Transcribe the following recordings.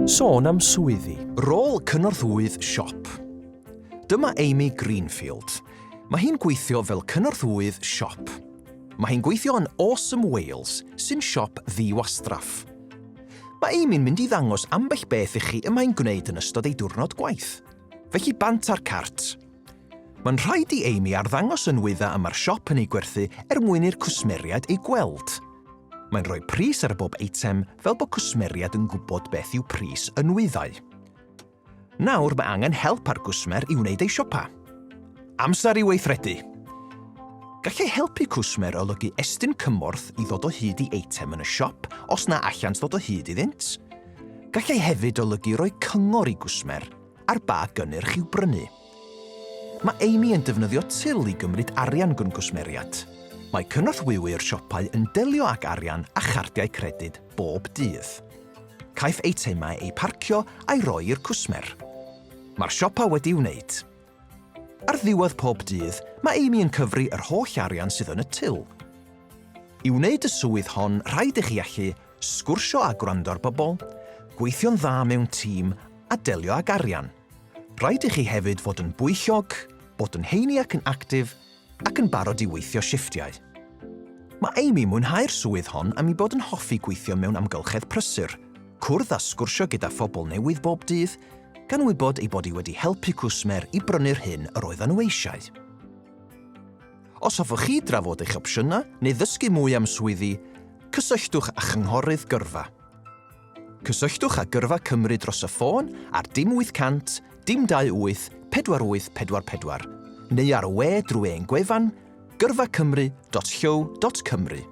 Sôn am swyddi. Rôl cynorthwyydd siop. Dyma Amy Greenfield. Mae hi'n gweithio fel cynorthwyydd siop. Mae hi'n gweithio yn Awesome Wales, sy'n siop ddi-wastraff. Mae Amy'n mynd i ddangos ambell beth i chi y mae'n gwneud yn ystod ei diwrnod gwaith. Felly bant â'r cart. Mae'n rhaid i Amy arddangos y nwyddau y mae'r siop yn eu gwerthu er mwyn i'r cwsmeriaid eu gweld. Mae'n rhoi pris ar bob eitem fel bod cwsmeriaid yn gwybod beth yw pris y nwyddau. Nawr mae angen help ar gwsmer i wneud ei siopa. Amser i weithredu! Gallai helpu cwsmer olygu estyn cymorth i ddod o hyd i eitem yn y siop os na allant ddod o hyd iddynt. Gallai hefyd olygu rhoi cyngor i gwsmer Ar ba gynnyrch i'w brynu? Mae Amy yn defnyddio til i gymryd arian gan gwsmeriaid. Mae cynorthwywr siopau yn delio ag arian a chardiau credyd bob dydd. Caiff eitemau eu parcio a'i roi i'r cwsmer. Mae'r siopa wedi'i wneud. Ar ddiwedd pob dydd, mae Amy yn cyfri yr holl arian sydd yn y til. I wneud y swydd hon, rhaid i chi allu Sgwrsio a gwrando ar bobl, gweithio'n dda mewn tîm a delio ag arian. Rhaid i chi hefyd fod yn bwyllog, bod yn heini ac yn actif, ac yn barod i weithio shifftiau. Mae Amy mwynhau'r swydd hon am ei bod yn hoffi gweithio mewn amgylchedd prysur, cwrdd a sgwrsio gyda phobl newydd bob dydd, gan wybod ei bod hi wedi helpu cwsmer i brynu'r hyn yr oeddan nhw eisiau. Os hoffech chi drafod eich opsiynau neu ddysgu mwy am swyddi, cysylltwch â Chynghorydd Gyrfa. Cysylltwch â Gyrfa Cymru dros y ffôn ar dim 800 dim 28 4844 neu ar y we drwy ein gwefan gyrfacymru.llyw.cymru.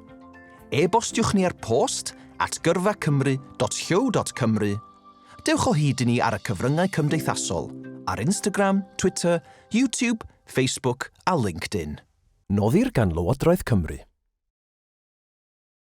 E-bostiwch ni ar post at gyrfacymru.llyw.cymru. Dewch o hyd i ni ar y cyfryngau cymdeithasol, ar Instagram, Twitter, YouTube, Facebook a LinkedIn. Noddir gan Lywodraeth Cymru.